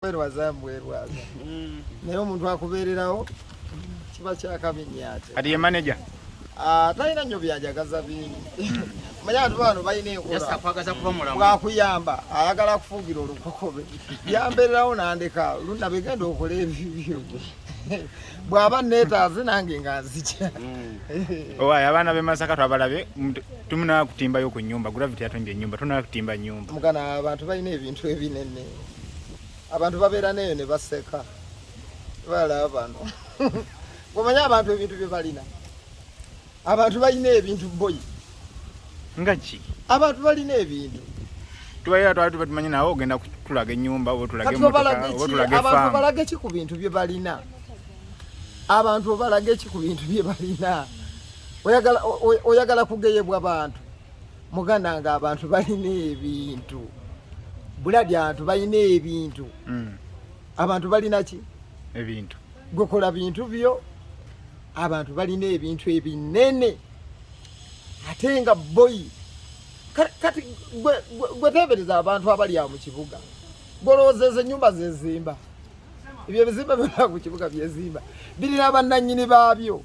bwerwaza mbwerwaza mm. naye omuntu akubeererawo kiba kyakabinyate kati ye manaja ah, talina nnyo byajagaza bingi mm. manya abantu bano balina enkolabwakuyamba ayagala kufugira olukokobe yambererawo nandeka luna begenda okola ebibyo bwaba netaaze nange nga nzija mm. owaye abaana bemasaka twabalabe tumunakutimbayo ku nyumba gravity yatonja enyumba tunakutimba nyumba mugana abantu balina ebintu ebinene abantu babeera neyo ne baseka balaba bano omanya abantu ebintu bye balina abantu balina ebintu boyi nga ki abantu balina ebintu tubalira twali tuba tumanyi nawe ogenda kutulaga ennyumba oba otulage abantu balage ki ku bintu bye balina abantu obalage ki ku bintu bye balina oyagala kugeyebwa bantu muganda nga abantu balina ebintu buladi abantu balina ebintu mm. abantu balina ki ebintu gwekola bintu byo abantu balina ebintu ebinene ate nga boyi kati gwetebereza abantu abali awo mu kibuga gwolowoozeeza enyumba zezimba ebyo ebizimba byona ku kibuga byezimba birina bannanyini baabyo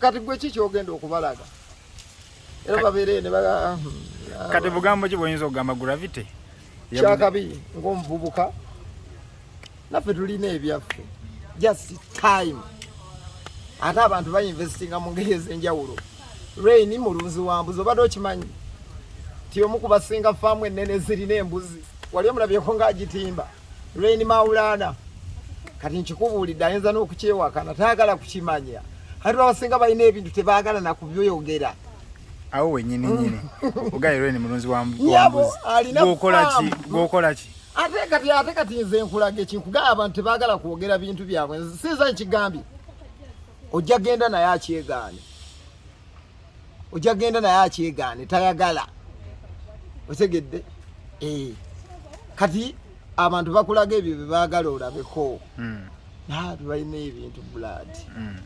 kati gwe ki kyogenda okubalaga kati bugambo ki bwoyinza okugamba gravity kyakabi ngaomuvubuka naffe tulina ebyaffe just time ate abantu bainvestinga mu ngeri ezenjawulo rain mulunzi wa mbuzi obadde okimanyi ti omu kubasinga faamu ennene zirina embuzi wali omulabyeko ngaagitimba Reign Maulana kati nkikubuulidde ayinza n'okukyewakana tayagala kukimanya kati abasinga balina ebintu tebaagala nakubyogera awo wenyini mm. nyini ugairwe ni mulunzi wa mbuzi gwokola ki ate kati ate kati nze nkulaga ekinkugamba abantu tebagala kwogera bintu byabwe sinza nkigambye ojja genda naye akyegaane ojja genda naye akyegaane tayagala otegedde eh. kati abantu bakulaga ebyo byebaagala olabeko hmm. naabe balina ebintu blood hmm.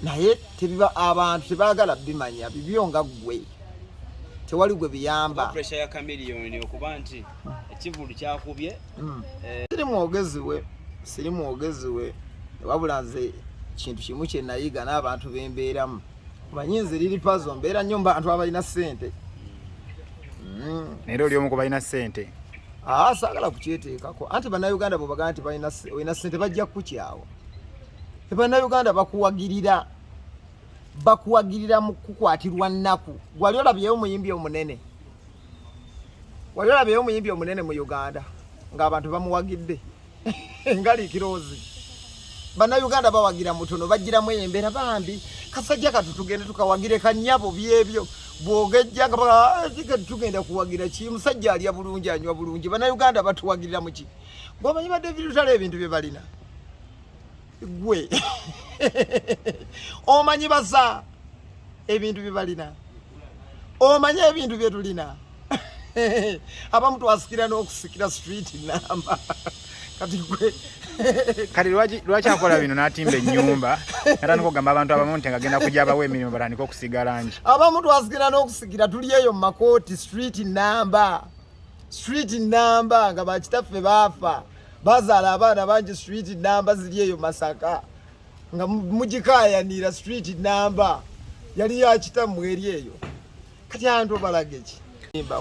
naye tebiba abantu tebaagala bimanya bibyo nga ggwe tewali gwe biyamba hmm. eh. siri mwogezi we siri mwogezi we wabula nze kintu kimu kyenayiga n'abantu bembeeramu Manyi nze liri pazo mbeera nnyo mbantu abalina ssente. Mm. Naye oli omu ku balina ssente. Ah, saagala kukyeteekako. Anti bannayuganda bwebagamba nti balina olina ssente bajja kukukyawa. Bannayuganda bakuwagirira bakuwagirira mu kukwatirwa nnaku. Gwali olabyeyo omuyimbi omunene. Wali olabyeyo omuyimbi omunene mu Uganda ng'abantu bamuwagidde. ngali kirozi bana Uganda bawagira mutono bagira mweyembera bambi kasajja katutugende tukawagire kanyabo byebyo bwogejja nga eh, tugenda kuwagira ki musajja alya bulungi anywa bulungi bana Uganda batuwagirira muki gwomanyi ba David Lutale ebintu bye balina gwe omanyi baza ebintu byebalina omanyi ebintu byetulina abamu twasikira n'okusikira street namba kati gwe kati lwaki akola bino natimba enyumba natandika okugamba abantu abamu nti ngagenda kuja bawa emirimu batandika okusiga langi abamu twasikira n'okusikira tuli eyo mu makooti street namba street namba nga bakitaffe baafa bazaala abaana bangi street namba ziri eyo masaka nga mugikayanira street namba yali yakitamu eri eyo kati abantu obalaga ki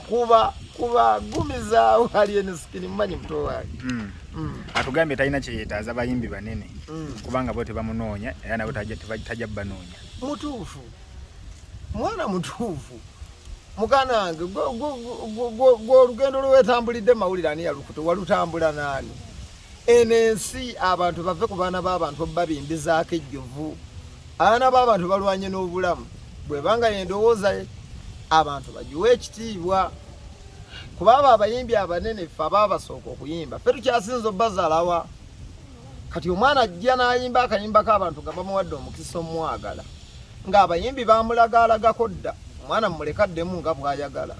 kuba kuba gumiza uhali ene sikini mmanyi muto wange mm. mm. atugambye talina kyeyetaaza bayimbi banene mm. kubanga bo tebamunoonya era nabo tajja banoonya mutuufu mwana mutuufu muganda wange gwe olugendo lwewetambulidde mawulire ani yalukuta walutambula naani eno ensi abantu bave ku baana b'abantu obabimbizaako ejjovu abaana b'abantu balwanye n'obulamu bwebanga yendowooza abantu bagiwe ekitiibwa kuba abo abayimbi abanene fe abaabasooka okuyimba fe tukyasinza obbazalawa kati omwana ajja n'ayimba akayimbako abantu nga bamuwadde omukisa omwagala ng'abayimbi bamulagaalagako dda omwana mumuleka addemu nga bw'ayagala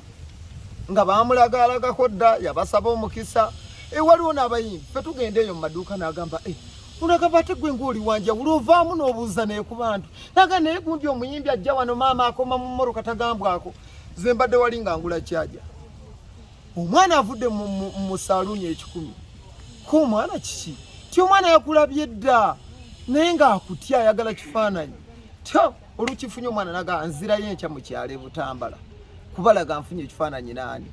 nga bamulagaalagako dda yabasaba omukisa e waliwo n'abayimbi fe tugenda eyo mu maduuka n'agamba e unagamba ate gwe ng'oli wanjawulo ovaamu n'obuuza naye ku bantu naga naye gundi omuyimbi ajja wano maama akoma mu mmoroka tagambwako ze mbadde wali nga ngula kyaja omwana avudde mu saluuni ekikumi ku omwana kiki ti omwana yakulabye dda naye ngaakutya ayagala kifaananyi tya olukifunye omwana naga nzirayo enkya mu kyalo ebutambala kubalaga nfunye ekifaananyi naani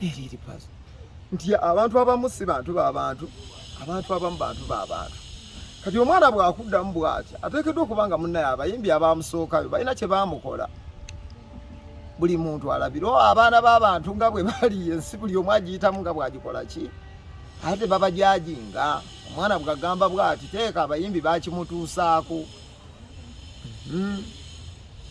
eriripazo nti abantu abamu si bantu babantu abantu abamu bantu babantu kati omwana bwakuddamu bwatya ateekeddwa okuba nga munnaye abayimbi abamusookayo balina kye baamukola buli muntu alabire oh, abaana b'abantu nga bwe bali ensi buli omu agiyitamu nga bw'agikola ki ate babajajinga omwana bwagamba bwati teeka abayimbi bakimutuusaako hmm.